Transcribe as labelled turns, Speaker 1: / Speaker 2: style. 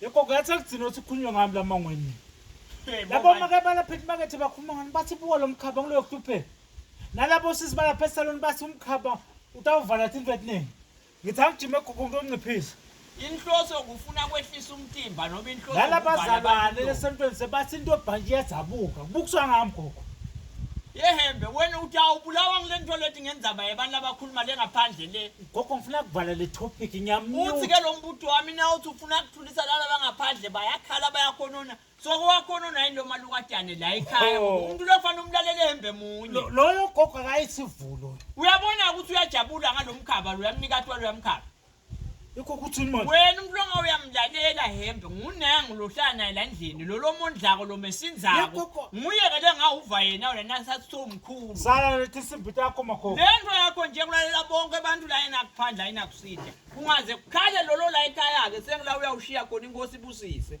Speaker 1: Yebo ngathi akugcina ukuthi kukhulunywe ngami la mangweni. Labo make balapha emakethe bakhuluma ngani bathi buka lo mkhaba ngiloyo kuhlupheka. Nalabo sisi balapha esaloni bathi umkhaba utawuvala thini vetnini. Ngithi angijime egugu umuntu onciphisa. Inhloso
Speaker 2: ukufuna kwehlisa umtimba noma inhloso Lala ukubhala abantu. bazalwane
Speaker 1: lesentweni sebathi into ebhanji iyazabuka. Kubukiswa ngami gogo. Yehembe
Speaker 2: wena uthi awubulawa ngile nto lethi ngenzaba yabantu abakhuluma le ngaphandle le. Gogo ngifuna kuvala le
Speaker 1: topic uthi ngiyamnyuka. ke lo mbutho wami
Speaker 2: na uthi ufuna kuthulisa laba bangaphandle bayakhala bayakhonona so kowakhonona yini lo malukadane la ekhaya Oh. umuntu lofanele umlalele ehembe munye Lo- Loyo gogo
Speaker 1: akayisivulo. uyabona ukuthi
Speaker 2: uyajabula ngalo mkhaba lo uyamnika atwala uyamkhaba Ikho ukuthi
Speaker 1: yini manje? wena umuntu longa
Speaker 2: uyamlalela hembe ngunangu lohlala naye la ndlini lo lomondlako lo mesinzako Yebo, ko- nguye-ke le ngawuva yena wena nasathi somu kakhulu. Salalethe simbi
Speaker 1: takho makhokho. Le nto yakho nje kulalela
Speaker 2: bonke abantu la enakuphandla ayinakusida. Kungaze kukhale lolo la ekhaya-ke sengila uyawushiya khona inkosi ibusise.